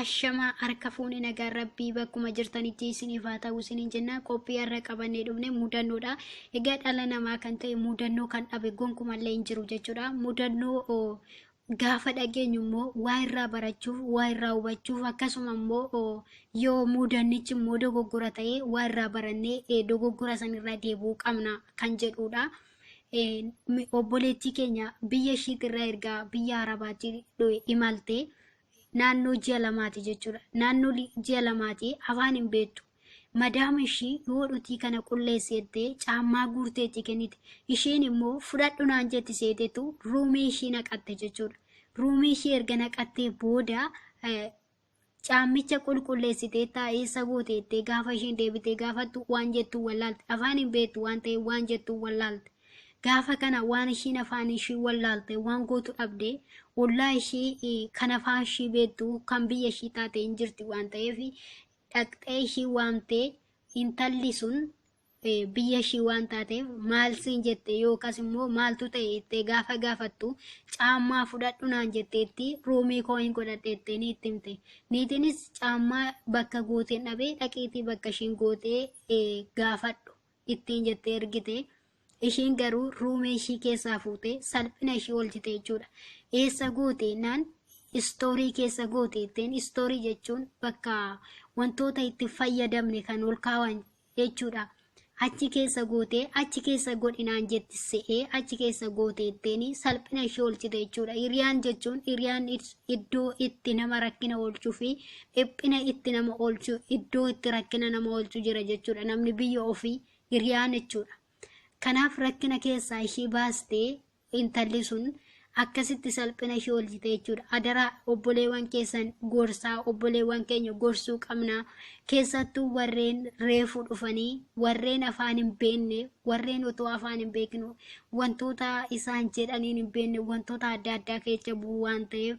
Ashamaa harka fuune nagaan rabbii bakkuma jirtanitti isiniif haa ta'u isiniin jenna qophii har'a qabannee dhufne mudannoodha. Egaa dhala namaa kan ta'e mudannoo kan dhabe gonkumallee hin jiru jechuudha. Mudannoo oo, gaafa dhageenyu immoo waa irraa barachuuf, waa irraa hubachuuf akkasuma immoo oo, yoo mudannichi immoo dogoggora ta'e waa irraa barannee eh, dogoggora sanirraa deebi'uu qabna kan jedhudha. obboleettii keenya biyya ishiitirraa ergaa biyya arabaatti imalte naannoo ji'a lamaati jechuudha. Naannoo ji'a lamaati afaan hin beektu. Madaama ishii yoo dhutii kana qulleessi jettee caammaa guurtee itti kennite. Isheen immoo fudhadhu naan jetti seetetu ruumii ishii naqatte jechuudha. Ruumii ishii erga naqattee booda Caammicha qulqulleessiteettaa? Eessa goote? jettee gaafa isheen deebitee gaafattu waan jettu wallaalte. Afaan hin beektu waan ta'eef waan jettu wallaalte. Gaafa kana waan ishiin afaan ishii wallaalte waan gootu dhabde ollaa ishii eh, kan afaan ishii beektu kan biyya ishii taate hin jirti waan ta'eef dhaqxee ishii waamtee intalli sun biyya ishii waan taateef maal siin jette yookaas immoo maaltu ta'e jettee gaafa gaafattu caammaa fudhadhu naan jetteetti ruumii koo hin godhadhe jettee ni itti himte. Niitiinis caammaa bakka gooteen dhabee dhaqiitii bakka ishiin gootee eh, gaafadhu ittiin jettee ergite. Ishiin garuu ruumee ishii keessaa fuutee salphina ishii oolchite jechuudha. Eessa goote naan istoorii keessa goote jetteen istoorii jechuun bakka wantoota itti fayyadamne kan ol kaawan jechuudha. Achi keessa gootee achi keessa godhinaan jetti se'ee achi keessa goote itteeni salphina ishee oolchite jechuudha. Hiriyaan jechuun hiriyaan id- iddoo itti nama rakkina oolchuu fi dhiphina itti nama oolchu iddoo itti rakkina nama oolchu jira jechuudha. Namni biyya ofii hiriyaan jechuudha. Kanaaf rakkina keessaa ishee baastee Intalli sun akkasitti salphina ishii oolchite jechuudha. Adaraa obboleewwan keessan gorsaa obboleewwan keenya gorsuu qabna. Keessattuu warreen reefu dhufanii warreen afaan hin beekne warreen otoo afaan hin beekne wantoota isaan jedhaniin hin beekne wantoota adda addaa keessa bu'u waan ta'eef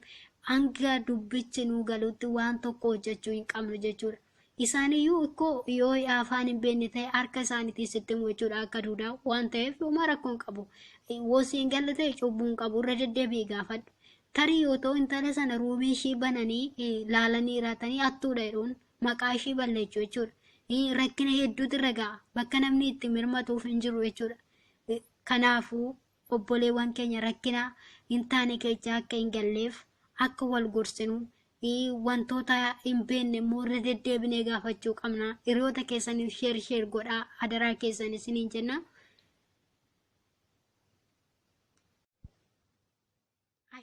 hanga dubbichi nuu galutti waan tokko hojjechuu hin qabnu jechuudha. Isaaniyyuu ikkoo yoo afaan hin beekne ta'e harka isaaniitiin sitti himu jechuudha akka duudaa waan ta'eef homaa rakkoo hin qabu. Wosii hin galle ta'e cubbuu hin qabu irra deddeebi'ii gaafadhu. Tarii yoo ta'u intala sana ruumii ishii bananii eh, laalanii hiraatanii hattuudha jedhuun maqaa ishii balleechuu jechuudha. Eh, Rakkina hedduutu irra ga'a bakka namni itti mirmatuuf hin jiru jechuudha. Eh, Kanaafuu obboleewwan keenya rakkina hin taane keessa akka hin galleef akka wal gorsinu ii, wantoota hin beekne immoo irra deddeebinee gaafachuu qabna hiriyoota keessaniif sheer sheer godhaa adaraa keessan isiniin jenna.